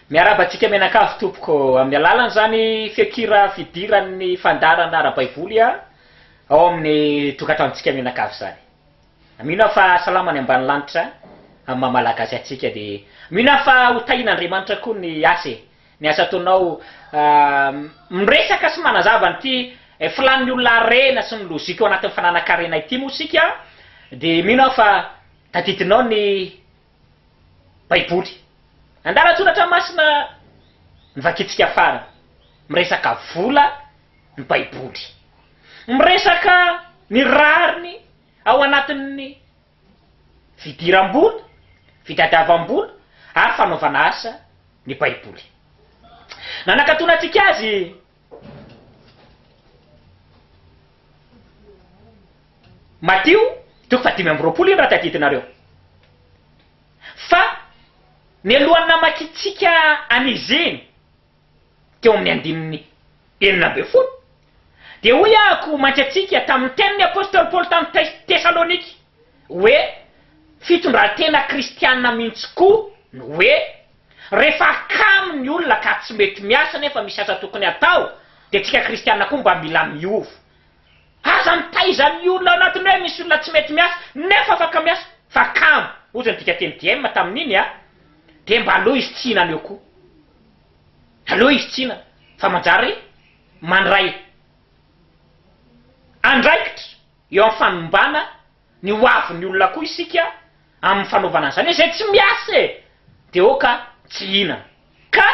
Miarahaba antsika mianakavy tompoko, amin'ny alalan'izany feon-kira fidiran'ny fandaharana ara-baiboly ao amin'ny tokantranontsika mianakavy izany. Mino aho fa salama ny ambany lanitra amin'ny maha malagasy antsika dia mino aho fa ho tahian'Andriamanitra koa ny asa e! ny asa ataonao miresaka sy manazava an'ity filan'ny olona harena sy ny lozika ao anatin'ny fananankarena ity moa isika dia mino aho fa tadidinao ny Baiboly. Andalan-tsoratra masina novakintsika farany. Miresaka vola ny Baiboly. Miresaka ny rariny ao anatin'ny fidiram-bola, fitadiavam-bola ary fanaovana asa ny Baiboly. Nanakatona antsika azy. Matio toko fahadimy amby roapolo iny raha tadidinareo. Fa mialohan'ny namakintsika an'izy iny teo amin'ny andininy enina ambin'ny folo dia hoy aho koa mantsy antsika tamin'ny tenin'ny apostoly Paoly tamin'ny Tesalônika hoe, Fitondran-tena kristiana mihitsy koa no hoe. Rehefa kamo ny olona ka tsy mety miasa nefa misy asa tokony hatao dia antsika kristiana koa mba mila miova. Aza mitaiza ny olona ao anatin'ny hoe misy olona tsy mety miasa nefa afaka miasa fa kamo, hozy ny dikateny DM tamin'iny a! dia mba aleo izy tsy hihinana eo koa. Aleo izy tsy hihinana fa manjary mandray andraikitra eo amin'ny fanimbana ny hoavin'ny olona koa isika. amin'ny fanaovana an'izany hoe izay tsy miasa e! dia aoka tsy hihinana. Ka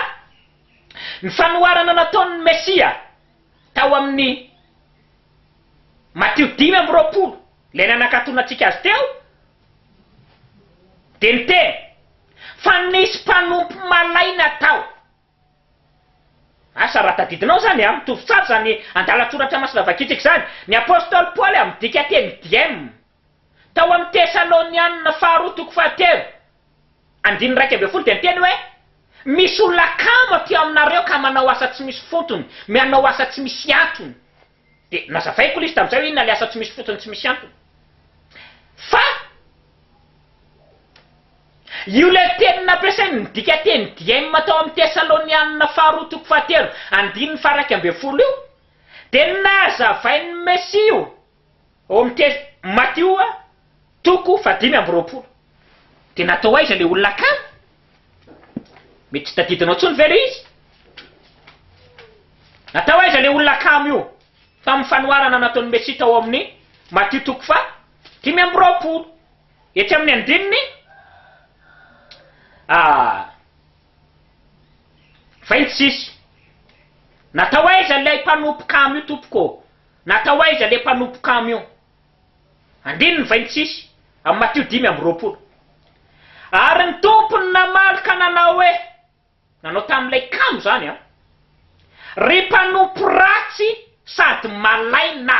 ny fanoharana nataon'ny Mesia tao amin'ny Matio dimy amby roapolo, ilay nanakatonantsika azy teo, dia niteny fa nisy mpanompo malaina tao. Asa raha tadidinao izany, mitovy tsara izany andalan-tsoratra masina vakintsika izany, ny apostoly Paoly amin'ny dika teny diem. Tao amin'ny Tesalonianina Faharoa toko fahatelo, andininy iraika ambin'ny folo dia niteny hoe, Misy olona kamo aty aminareo ka manao asa tsy misy fontony, mianao asa tsy misy antony. Dia nazavaiko ilay izy tamin'izay hoe inona ilay asa tsy misy fontony tsy misy antony. Fa io ilay teny nampiasain'ny midika teny diaim tao amin'ny Tesalonianina Faharoa toko fahatelo, andininy faha iraika ambin'ny folo io, dia nazavain'ny Mesia io. Ao amin'ny teny Matio, toko fahadimy amby roapolo, dia natao aiza ilay olona kamo? Mety tsy tadidinao intsony ve ilay izy? Natao aiza ilay olona kamo io? Tamin'ny fanoharana nataon'ny Mesia tao amin'ny Matio toko faha dimy amby roapolo, etsy amin'ny andininy vingt six. Natao aiza ilay mpanompo kamo io, tompoko ô? Natao aiza le mpanompo camion? Andininy vay ny tsisy am Matio dimy amby roapolo. Ary ny Tompo no namaly ka nanao hoe, nanao tamin'ilay kamo zany an! Ry mpanompo ratsy sady malay na!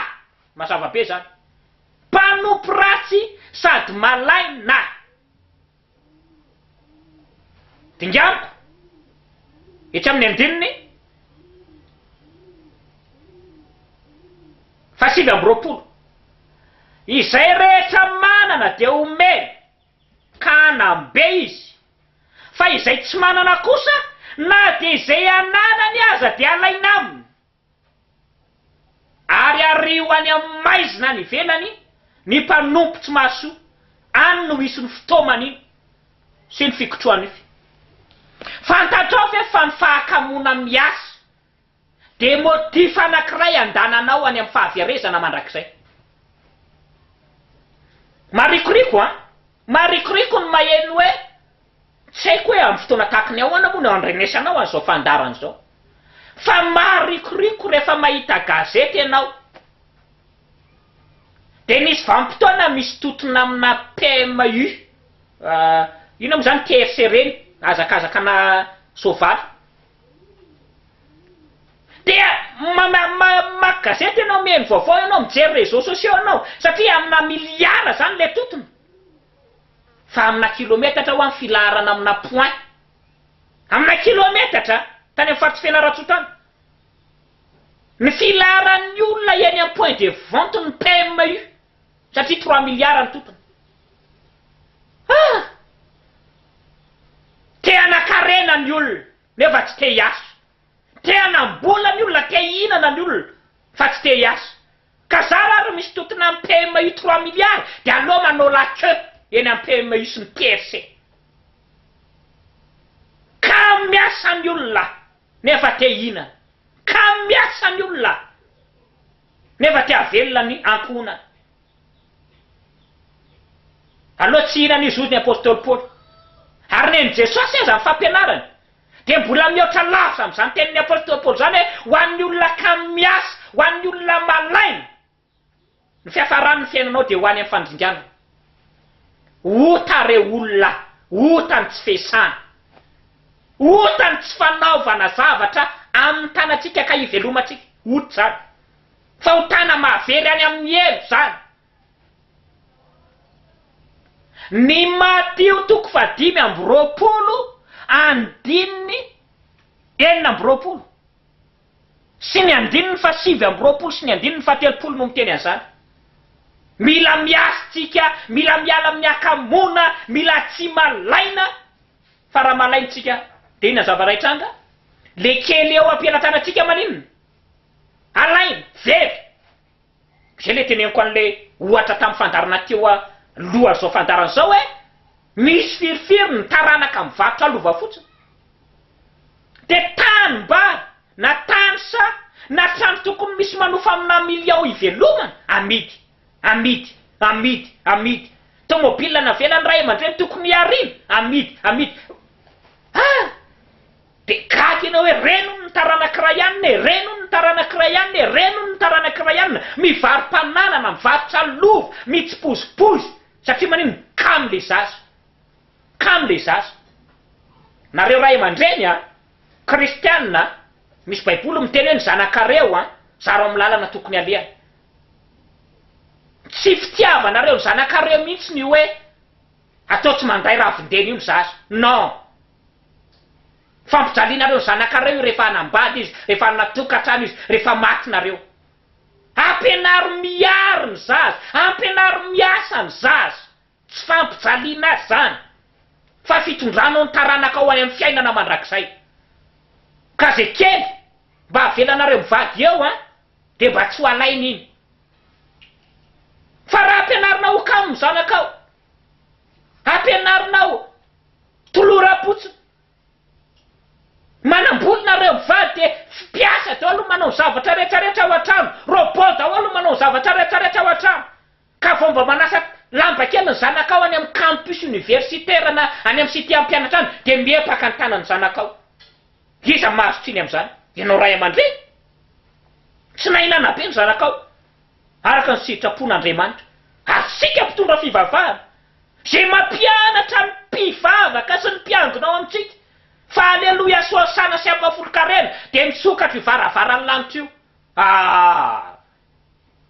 Mazava be zany. Mpanompo ratsy sady malay na! Dinganiko etsy amin'ny andininy fahasivy amby roapolo, Izay rehetra manana dia homeny, ka hanam-be izy, fa izay tsy manana kosa, na dia izay ananany aza dia halaina aminy. Ary ario any amin'ny maizina any ivelany ny mpanompo tsy mahasoa, any no misy ny fitaoman'iny sy ny fikotrohan'io fy. Fantatrao ve fa ny fahakamoana miasa dia motif anankiray andananao any amin'ny fahaverezana mandrakizay? Marikoriko an! Maharikoriko ny maheno hoe, tsy haiko hoe amin'ny fotoana tahaka ny ahoana moa no andrenesana ao an'izao fandaharana izao, fa maharikoriko rehefa mahita gazety ianao, dia nisy vanim-potoana misy tontona aminà PMU, inona moa izany TFC ireny, hazakazakana soavaly, Dia mamaky gazety ianao, mihaino vaovao ianao, mijery réseaux sociaux ianao, satria amina miliara izany ilay totona, fa amina kilometatra ho'a ny filaharana amina point. Amina kilometatra, tany amin'ny faritr'i Fianarantsoa tany, ny filaharan'ny olona eny amin'ny point de vente-n'ny PMU. satria trois milliards ny totony ah! te hanakarena ny olona nefa tsy te hiasa, te hanam-bola ny olona, te hihinana ny olona fa tsy te hiasa, ka za ra ry misy totina am PMU trois milliards de aleo manao la queue eny am PMU sy ny TRC ka miasa ny olona nefa te hihinana, ka miasa ny olona. Nefa te havelona ny ankohonany. Aloha tsy hihinana io zoziny apostoly Paoly. Ary nen'i Jesosy aza ny fampianarany dia mbola mihoatra lavitra amin'izany tenin'ny apostoly Paoly izany hoe ho an'ny olona kamo miasa, ho an'ny olona malaina, ny fiafaran'ny fiainanao dia ho any amin'ny fandringanana. Ota re olona a! Ota ny tsy fiesana. Ota ny tsy fanaovana zavatra amin'ny tanantsika ka hivelomantsika. Ota izany. Fahotana mahavery any amin'ny helo izany. Ny Matio toko fahadimy amby roapolo andininy enina amby roapolo. sy ny andininy fahasivy amby roapolo sy ny andininy fahatelopolo no miteny an'izany. Mila miasa isika, mila miala amin'ny hakamoana, mila tsy malaina, fa raha malaina isika dia inona ny zava-ray tranga? Ilay kely eo am-pelatanantsika maninona? Alaina, very! Zay le teneniko anle ohatra tam fandarana teo a loha zao fandarana zao hoe misy firifiry ny taranaka mivarotra lova fotsiny de tany mba na tany sa na trano tokony misy manofa amina million ivelomana amidy amidy amidy amidy tomobile navelan ray amandreny tokony hiarina amidy amidy ah! Dia gaga ianao hoe renon ny taranak'i Ryan e! Renon ny taranak'i Ryan e! Renon ny taranak'i Ryan! Mivaro-pananana, mivarotra lova, mitsipozipozy, satria maninona? Kamo le zaza! Kamo le zaza! Nareo ray aman-dreny an! Kristiana an! Misy baiboly miteny hoe ny zanakareo an! Zaro amin'ny lalana tokony alehany! Tsy fitiavanareo ny zanakareo mihitsy ny hoe atao tsy manday ravin-dena io ny zaza! Non! Fampijalianareo ny zanakareo io rehefa hanambady izy, rehefa hanana tokantrano izy, rehefa maty nareo. Ampianaro miaro ny zaza, ampianaro miasa ny zaza. Tsy fampijaliana azy zany fa fitondranao ny taranakao any amin'ny fiainana mandrakizay. Ka ze kely mba avelanareo mivady eo an, de mba tsy ho alainy iny. Fa raha ampianarinao ho kamo ny zanakao, ampianarinao. Tolora potsiny. Manamboly nareo mivady de fpiasa daolo no manao ny zavatra rehetra rehetra ao antrano, robot daolo no manao ny zavatra rehetra rehetra ao antrano, ka vao mba manasa lamba kely ny zanakao any am campus universitaire na any am cite ampianatra any de miepaka ny tanany zanakao. Iza mahazo tsiny amzany? Ianao ray amandreny? Tsy nahinana be ny zanakao araka ny sitrapon'Andriamanitra ary tsika mpitondra fivavahana Izay mampianatra ny mpivavaka sy ny mpiangona ao amintsika fa Aleloia sy Hosana sy Ampahafolon-karena dia misokatra io varavaran'ny lanitra io. Ah!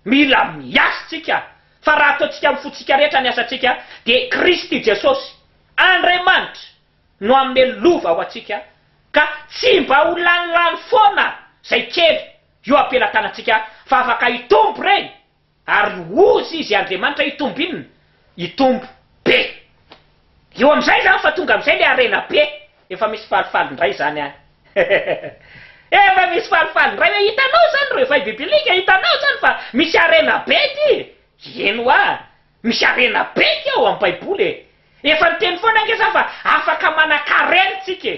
Mila miasa tsika fa raha ataontsika amin'ny fontsika rehetra ny asantsika dia Kristy Jesosy, Andriamanitra, no hanome lova ho antsika ka tsy mba ho lanilany foana izay kely eo am-pelatanantsika fa afaka hitombo ireny. Ary hozy izy Andriamanitra hitombo inona? Hitombo be. Eo amin'izay izany fa tonga amin'izay ilay harena be. Efa misy falifaly indray izany any. Efa misy falifaly indray hoe hitanao izany réveil biblique, hitanao izany fa misy harena be ity e! Eny hoa, misy harena be ity ao amin'ny Baiboly e! Efa niteny foana ange izaho fa afaka manan-karena isika e!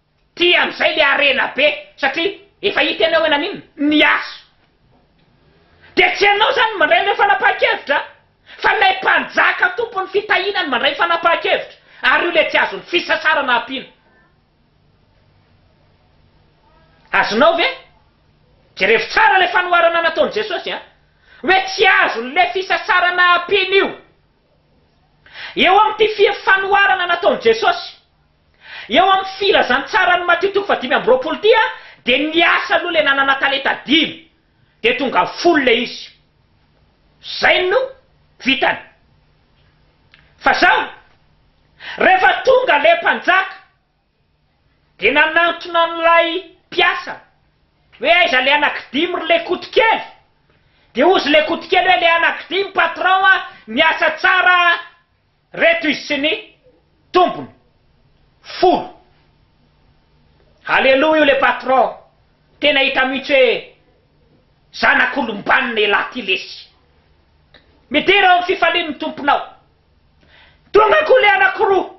Ty amizay le harena be satria efa hita enao hoe naninona? Niaso. Dia tsy enao zany no mandray an'ireo fanapahan-kevitra an! Fa ilay mpanjaka tompon'ny fitahiana no mandray fanapahan-kevitra ary io le tsy azon'ny fisasarana ampiana. Azonao ve? Jerevo tsara le fanoharana nataon'i Jesosy an! Hoe tsy azon'ny le fisasarana ampiana io. Eo amin'ity fir fanoharana nataon'i Jesosy. Eo amin'ny filazantsaran'i Matio toko fahadimy amby roapolo dia dia niasa aloha ilay nanana talenta dimy dia tonga folo ilay izy. Izay no vitany. Fa izao, rehefa tonga ilay mpanjaka dia nanantona an'ilay mpiasa hoe aiza ilay anakidimy ry lekotokely? Dia hozy lekotokely hoe ilay anakidimy patron a, miasa tsara a. Reto izy sy ny tompony folo. Aleloa io le patron tena hita mihitsy hoe zanak'olombanona elah ty lesy. Midera ao am fifalian ny tomponao. Tonga ko le anakiroa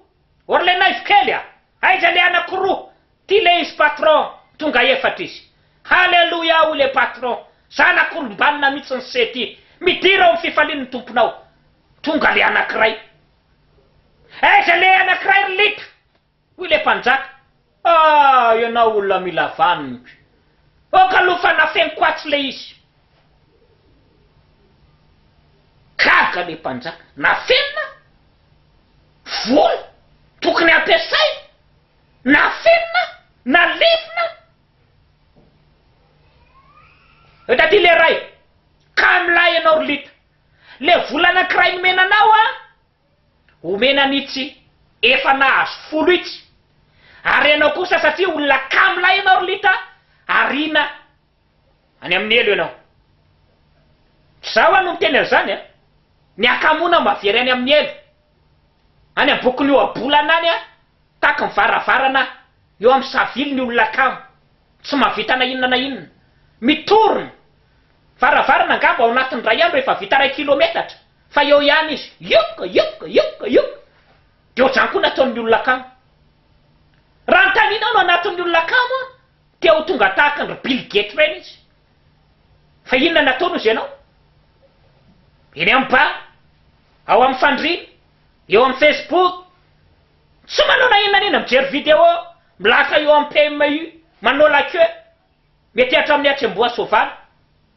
or le naivo kely a! Aiza le anakiroa ty le izy patron tonga efatra izy. Haleloia hoy le patron zanak'olombanona mihitsy ny se ty midera ao am fifalian ny tomponao. Tonga le anakiray. Aiza le anakiray ry litra? hoy le mpanjaka. Ah! ianao olona mila vaniko. Ok aloha fa nafeniko atsy le izy. Gaga le mpanjaka. Nafenina? Vola tokony ampiasaina? Nafenina? Nalevina? Eto aty le ray. Kamo lahy ianao ry litra. Le vola anankiray nomena anao a, omena an'itsy efa nahazo folo itsy, ary ianao kosa satria olona kamo lahy ianao ry lita ariana any amin'ny helo ianao. Izaho ho'a no miteny an'izany a, ny hakamoana mavery any amin'ny helo, any am-bokon'ny ohabolana any a, tahaky ny varavarana eo amin'ny savily ny olona kamo, tsy mahavita na inona na inona, mitorona, Varavarana angamba ao anatin'ny iray andro efa vita iray kilometatra fa eo ihany izy youk youk youk youk dia ohatr'izany koa ny ataon'ny olona kamo. Raha anontanianao ny anatin'ny olona kamo an, dia ho tonga tahaka an-dry Bill Gates ireny izy. Fa inona no ataony hozy ianao? Eny amin'ny bar, ao amin'ny fandriana, eo amin'ny facebook, tsy manao na inona na inona mijery video, milahatra eo amin'ny PMU, manao la queue. Mety hatramin'ny hatsembohan'ny soavaly.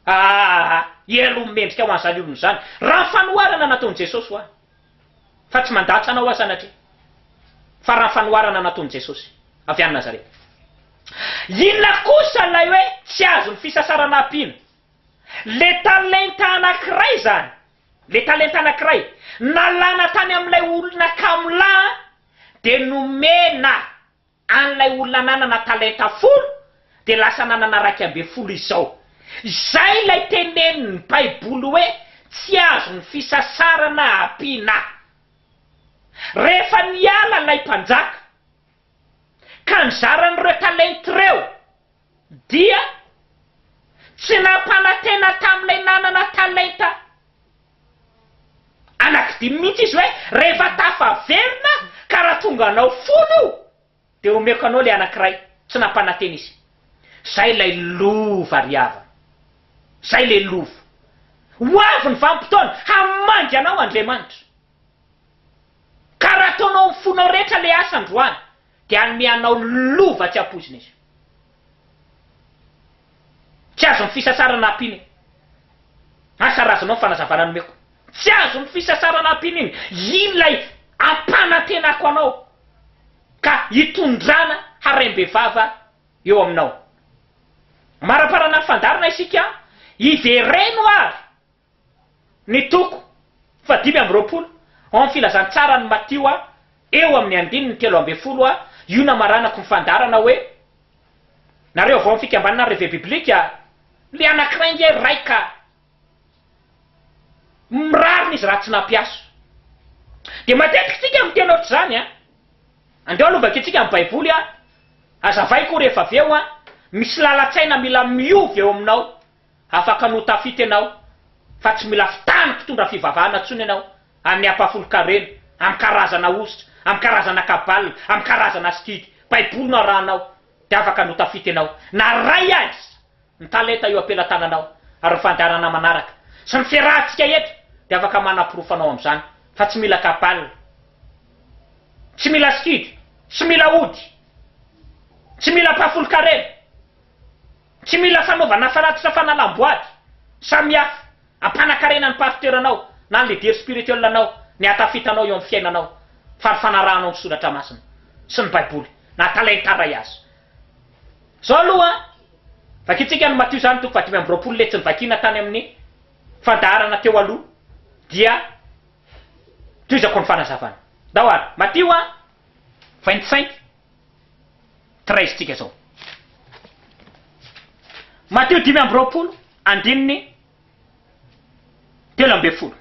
Aahh! Ie aloha ny mendrika ho an'izany olona izany. Raha ny fanoharana nataon'i Jesosy ho ahy. Fa tsy mandatsa anao aho sanatria. Fa raha ny fanoharana nataon'i Jesosy. Avy any Nazareta. Inona kosa ilay hoe tsy azon'ny fisasarana ampiana? Ilay talenta anankiray izany. Ilay talenta anankiray. Nalana tany amin'ilay olona kamo lahy dia nomena. An'ilay olona nanana talenta folo dia lasa nanana raika ambin'ny folo izao. Izay ilay tenenin'ny Baiboly hoe tsy azon'ny fisasarana ampiana. Rehefa niala ilay mpanjaka, ka nizara an'ireo talenta ireo, Dia tsy nampanantena tamin'ilay nanana talenta anankidimy mihitsy izy hoe, 'Rehefa tafaverina ka raha tonga anao folo io, dia homeko anao ilay anankiray. Tsy nampanantena izy. Izay ilay lova ry havana. Izay ilay lova. Ho avy ny vanim-potoana, hamangy anao Andriamanitra. Ka raha ataonao amin'ny fonao rehetra ilay asa androany, Dia hanome anao lova tsy ampoizina izy. Tsy azon'ny fisasarana ampiana iny. Asa razanao ny fanazavana nomeko. Tsy azon'ny fisasarana ampiana iny. Iny ilay ampanantenako anao ka hitondrana harem-bevava eo aminao. Amaraparana ny fandaharana isika, hivereno ary. Ny toko fahadimy amby roapolo ao amin'ny Filazantsaran'i Matio eo amin'ny andininy telo ambin'ny folo io namaranako ny fandaharana hoe, Nareo avy ao amin'ny Fikambanana Reve Biblique, ilay anankiray ange ray ka mirarina izy raha tsy nampiaso. Dia matetika isika miteny ohatr'izany an! Andao aloha vakintsika ny Baiboly an! Hazavaiko rehefa avy eo an! Misy lalan-tsaina mila miova eo aminao. Afaka no ho tafita ianao, fa tsy mila fitàna mpitondra fivavahana intsony ianao, amin'ny ampahafolon-karena, amin'ny karazana hosotra, amin'ny karazana kabala, amin'ny karazana sikidy. Baiboly no arahanao, dia afaka no ho tafita ianao, na iray aza ny talenta eo am-pelatananao. Ary ny fandaharana manaraka, sy ny fiarahantsika eto, dia afaka manaporofo anao amin'izany, fa tsy mila kabala, tsy mila sikidy, tsy mila ody, tsy mila ampahafolon-karena. Tsy mila fanaovana faratitra fanalam-boady samihafa hampanakarena ny pasteur-nao na ny leader spirituel-nao ny hatafitanao eo amin'ny fiainanao fa ny fanarahanao ny soratra masina sy ny baiboly na talenta-ray aza zao aloha vakintsika ny Matio izany toko fahadimy amby roapolo letsy nivakiana tany amin'ny fandaharana teo aloha dia tohizako ny fanazavana ndao ary Matio a vingt cinq treize tsika zao. Matio dimy amby roapolo andininy telo ambin'ny folo.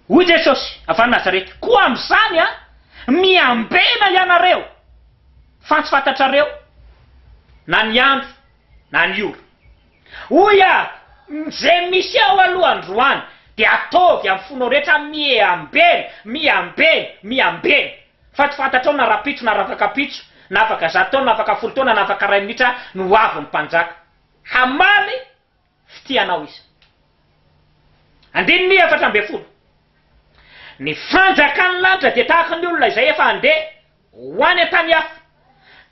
Hoy Jesosy avy any Nazareta, koa amin'izany a, miambena ianareo, fa tsy fantatrareo na ny andro na ny ora. Hoy aho, Izay misy ao aloha androany dia ataovy amin'ny fonao rehetra miha-ambeno, miha-ambeno, miha-ambeno. Fa tsy fantatrao na rahampitso na rafakampitso, na afaka zato taona, na afaka folo taona, na afaka iray minitra no ho avy ny Mpanjaka. Hamaly Fitia anao izy. Andininy efatra ambin'ny folo. Ny fanjakan'ny lanitra dia tahaka ny olona izay efa handeha ho any an-tany hafa,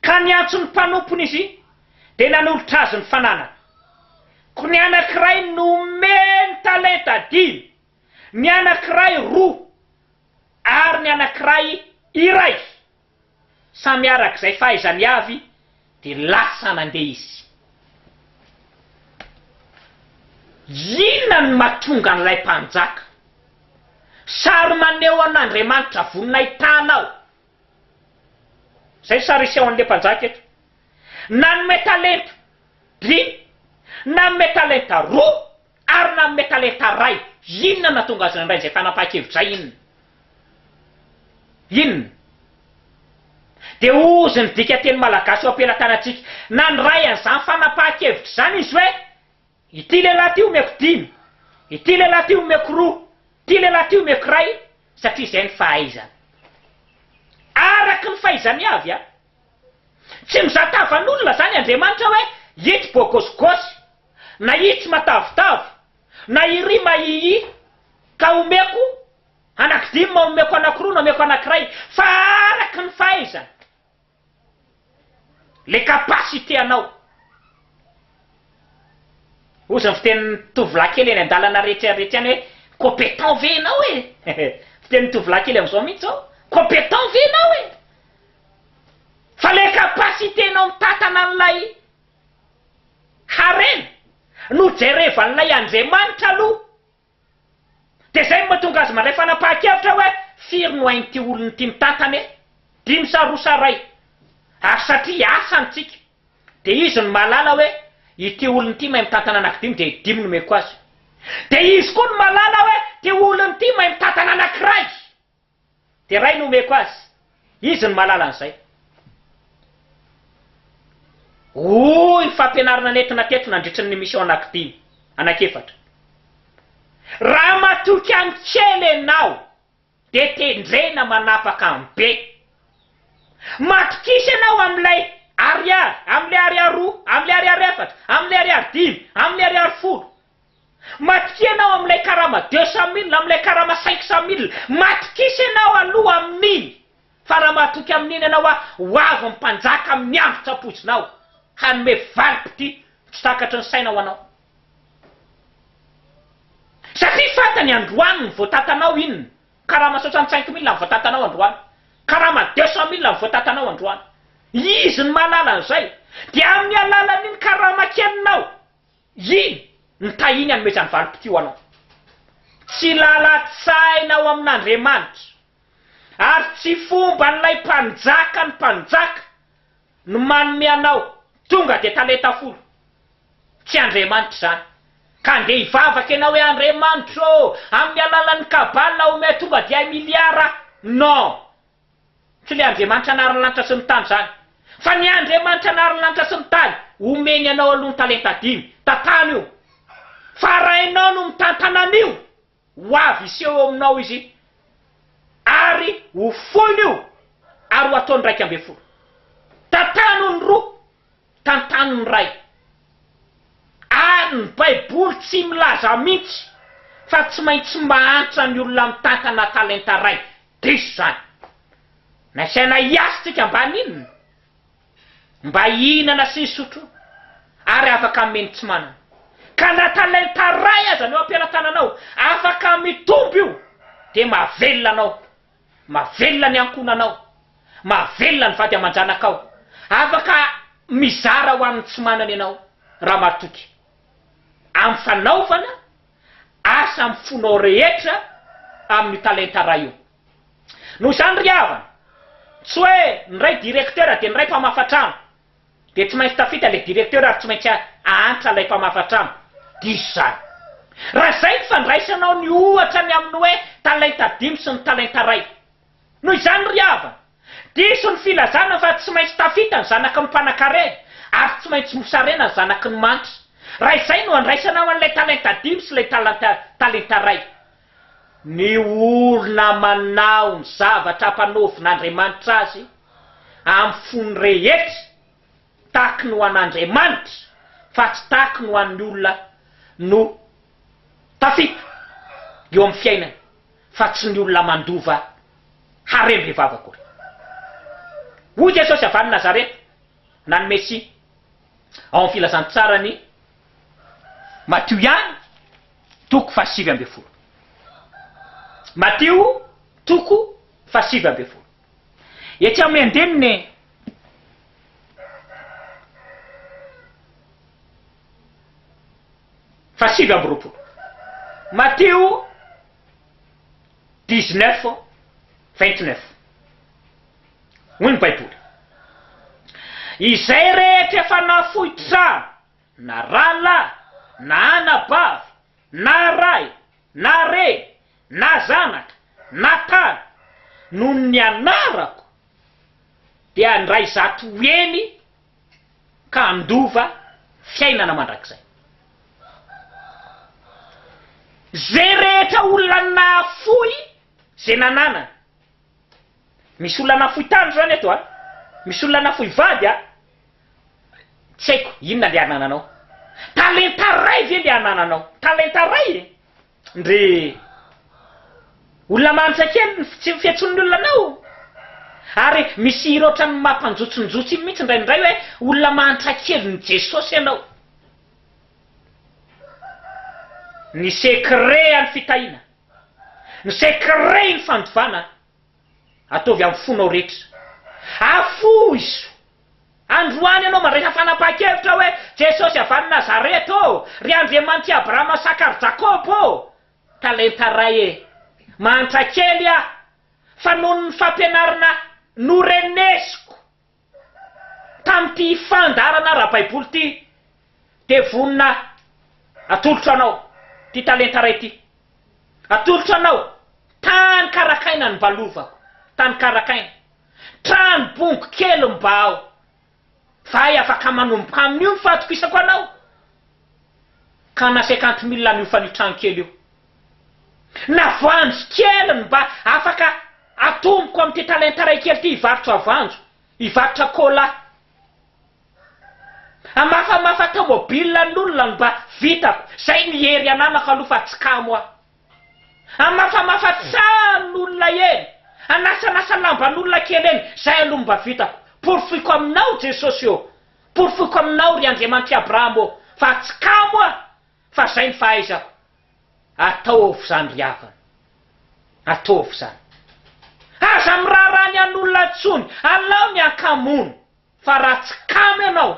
ka niantso ny mpanompony izy dia nanolotra azy ny fananany. Koa ny anankiray nomeny talenta dimy, ny anankiray roa, ary ny anankiray iray. Samy araka izay fahaizany avy dia lasa nandeha izy. Inona no mahatonga an'ilay mpanjaka? Sary maneho an'Andriamanitra vonona hitana aho. Izay ny sary hiseho an'ilay mpanjaka eto. Nanome talenta dimy, nanome talenta roa. Ary nanome talenta iray. Inona no nahatonga azy nandray izay fanapahan-kevitra izay? Inona? Inona? Dia hozy ny dikanteny malagasy eo am-pelatanantsika. Nandray an'izany fanapahan-kevitra izany izy hoe, Ity lehilahy ity omeko dimy, ity lehilahy ity omeko roa, ity lehilahy ity omeko iray, satria izay ny fahaizany. Araka ny fahaizany avy an! Tsy mizaha tavan'olona izany Andriamanitra hoe, ito bôgôsigôsy. na hitsy matavitavy, na hiry mahihi, ka homeko anakidimy na homeko anakiroa na homeko anakiray, fa araky ny fahaizana, le capacité anao. Ozy ny fitenin'ny tovolahy kely eny an-dalana rehetra any rehetra any hoe, compétent ve enao e? fitenin'ny tovolahy kely amzao mintsy zao, compétent ve enao e? Fa le capacité nao mitatana an'ilay. Harena no jerevan'ilay Andriamanitra aloha, dia izay no mahatonga azy mandray fanapahan-kevitra hoe firy no ain'ity olona ity mitantana e? Dimy sa roa sa ray? Ary satria hiasa ny tsika, dia izy no mahalala hoe ity olona ity mahay mitantana anankidimy dia dimy no omeko azy. Dia izy koa no mahalala hoe ity olona ity mahay mitantana anankiray. Dia ray no omeko azy. Izy no mahalala an'izay. Hoy ny fampianarana nentina teto nandritry ny mission anankidimy, anankiefatra. Raha matoky an'ny kely ianao dia tendrena manapaka amin'ny be. Matokisa ianao amin'ilay ariary, amin'ilay ariary roa, amin'ilay ariary efatra, amin'ilay ariary dimy, amin'ilay ariary folo. Matokia ianao amin'ilay karama deux cent mille, amin'ilay karama cinq cent mille. Matokisa ianao aloha amin'iny, fa raha mahatoky amin'iny ianao aho, ho avy ny mpanjaka amin'ny andro tsy ampoizinao, hanome valim-pitia tsy takatry ny saina ho anao. Satria fantany androany ny voatatanao inona, karama soixante cinq mille ny voatatanao androany, karama deux cent mille ny voatatanao androany. Izy no mahalala an'izay. Dia amin'ny alalan'iny karama kelinao. Yii! Ny tahiany anomezany valim-pitio anao. Tsy lalan-tsaina ao amin'Andriamanitra ary tsy fomban'ilay mpanjaka ny mpanjaka no manome anao tonga dia talenta folo. Tsy Andriamanitra izany. Ka andeha hivavaka ianao hoe Andriamanitra ô, amin'ny alalan'ny kabala omeo tonga dia hay miliara. Non! Tsy ilay Andriamanitra nahary ny lanitra sy ny tany izany, fa ny Andriamanitra nahary ny lanitra sy ny tany homeny anao aloha ny talenta dimy, tantano io, fa raha ianao no mitantana an'io, ho avy hiseho eo aminao izy ary hofoin'io ary ho ataony raika ambin'ny folo. Tantano ny roa. tantanin'ny Ray. Ary ny Baiboly tsy milaza mihitsy fa tsy maintsy mahantra ny olona mitantana talenta iray. Diso izany. Nasaina hiasa isika mba haninona? Mba hihinana sy hisotro ary afaka hanome ny tsy manana. Ka na talenta iray aza no ampiaratananao, afaka mitombo io dia mahavelona anao Mahavelona ny ankohonanao. Mahavelona ny vady aman-janakao. Afaka mizara ho an'ny tsy manana ianao, Ramaritoky. Amin'ny fanaovana asa amin'ny fonao rehetra amin'io talenta iray io. Noho izany ry havana, tsy hoe ny iray direktera dia ny iray mpamafa trano. Dia tsy maintsy tafita ilay directeur ary tsy maintsy ahantra ilay mpamafa trano. Diso izany. Raha izay ny fandraisanao ny ohatra ny amin'ny hoe talenta dimy sy ny talenta iray. Noho izany ry havana, diso ny filazana fa tsy maintsy tafita ny zanaky ny mpanankareha ary tsy maintsy mosarena ny zanaky ny manitra. Raha izay no andraisanao an'ilay talenta dimy sy ilay talenta talenta iray. Ny olona manao ny zavatra ampanaovin'Andriamanitra azy amin'ny fony rehetra, takiny ho an'Andriamanitra fa tsy takiny ho an'ny olona no tafita eo amin'ny fiainany fa tsy ny olona mandova harembe vava akory. Hoy Jesosy avy any Nazareta, na ny Mesia, ao amin'ny Filazantsara ny Matio ihany, Toko fahasivy ambin'ny folo. Matio toko fahasivy ambin'ny folo. Etsy amin'ny andininy fahasivy amby roapolo. Matio dix neuf vingt neuf. Hoy ny Baiboly. Izay rehetra efa nafoitra na rahalahy, na anabavy, na ray, na reny, na zanaka, na tany, noho ny anarako, dia handray zato heny ka handova fiainana mandrakizay. Izay rehetra olona nahafoy izay nananany, Misy olona nafoy tany zany eto a! Misy olona nafoy vady a! Tsy haiko inona le anananao. Talenta ray ve le anananao? Talenta ray e! Ndry olona mahantra kely ny fihetsoan'ny olona anao. Ary misy hira ohatran'ny maha mpanjotsonjotso iny mihitsy indraindray hoe olona mahantra kelin'i Jesosy ianao. Ny secret an'ny fitahiana. ny secret ny fandovana ataovy amin'ny fonao rehetra afoh izo androany ianao mandraisa fanapahan-kevitra hoe Jesosy avy any Nazareth ô ry Andriamanitr'i Abrahama Sakary Jakoba ô talenta ray e mahantra kely aho fa noho ny fampianarana norenesiko Tamin'ity fandaharana ara-baiboly ity dia vonona atolotra anao ity talenta iray ity. Atolotro anao tany karakaina ny mba lovako, tany karakaina. Trano bongo kely mba ao. Vahay afaka manomboka amin'io ny fahatokisako anao. Ka na cinquante mille no hiofan'io trano kely io. na voanjo kely ny mba afaka atomboko amin'ity talenta iray kely ity hivarotra voanjo, hivarotra cola, hamafamafa tomobile an'olona no mba vitako, zay ny hery ananako aloha fa tsy kamo aho, hamafamafa tranon'olona eny, hanasanasa lamban'olona kely eny, zay aloha no mba vitako, porofoiko aminao Jesosy ô, porofoiko aminao ry Andriamanitr'i Abraham ô fa tsy kamo aho fa zay ny fahaizako, Ataovy zany ry havana, ataovy zany. Aza miraharaha ny an'olona intsony, alao ny ankamono, fa raha tsy kamo ianao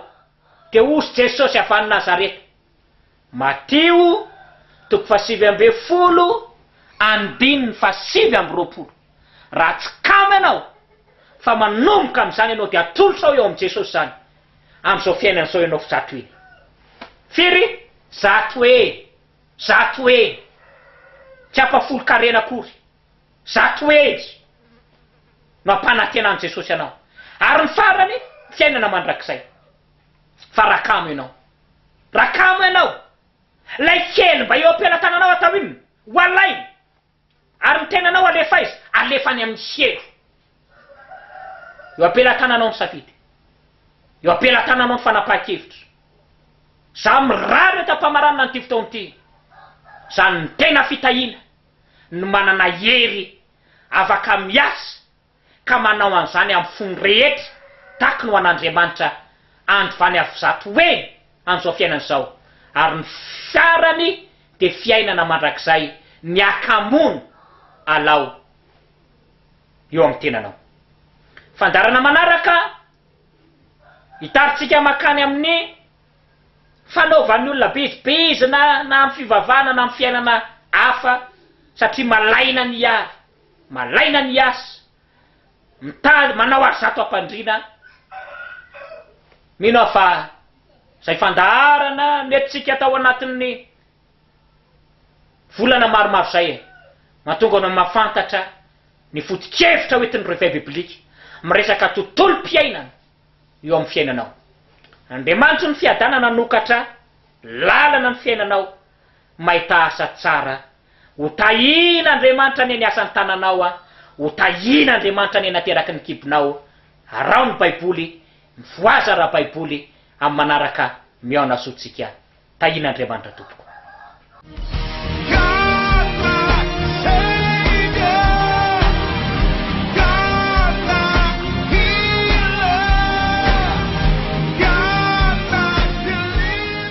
dia ozy Jesosy avy any Nazareta. Matio toko fahasivy ambin'ny folo andininy fahasivy amby roapolo. Raha tsy kamo ianao fa manomboka amin'izany ianao dia atolotrao eo amin'i Jesosy izany. amin'izao fiainana izao ianao Zato e! Firy? Zato e! Zato e! Tsy ampahafolon-karena akory. Zato hegy no ampanantenan'i Jesosy anao. Ary ny farany, fiainana mandrakizay. Fa raha kamo ianao, raha kamo ianao, ilay kely mba eo am-pelatananao atao inona? Ho alainy! Ary ny tenanao alefa aiza? Alefa any amin'ny sielo. Eo am-pelatananao ny safidy. Eo am-pelatananao ny fanapahan-kevitra. Izaho mirary eto am-pamaranana an'ity fotoana ity, izany ny tena fitahiana, ny manana hery afaka miasa, ka manao an'izany amin'ny fony rehetra, takiny ho an'Andriamanitra andvany avizato hoe an'izao fiainana izao, ary ny farany dia fiainana mandrakizay miaka-mono alao eo amin'ny tenanao. Fandaharana manaraka hitarintsika mankany amin'ny fanaovan'ny olona bizibizina na amin'ny fivavahana na amin'ny fiainana hafa satria malaina ny hiary. Malaina ny hiasa, mitaly, manao ary zato am-pandriana. Mino aho fa izay fandaharana noentintsika tao anatin'ny volana maromaro izay e, mahatonga anao mahafantatra ny foto-kevitra ho entin'ny Réveil biblique miresaka tontolom-piainana eo amin'ny fiainanao. Andriamanitry ny fiadanana hanokatra lalana ny fiainanao mahita asa tsara Ho tahin' Andriamanitra anie ny asan tananao a! Ho tahin' Andriamanitra anie nateraky ny kibonao! Araho ny baiboly, mifohaza raha baiboly, amin'ny manaraka mihaona soa tsika! Tahin' Andriamanitra tompoko. God my Savior, God my Healer, God my Deliverer.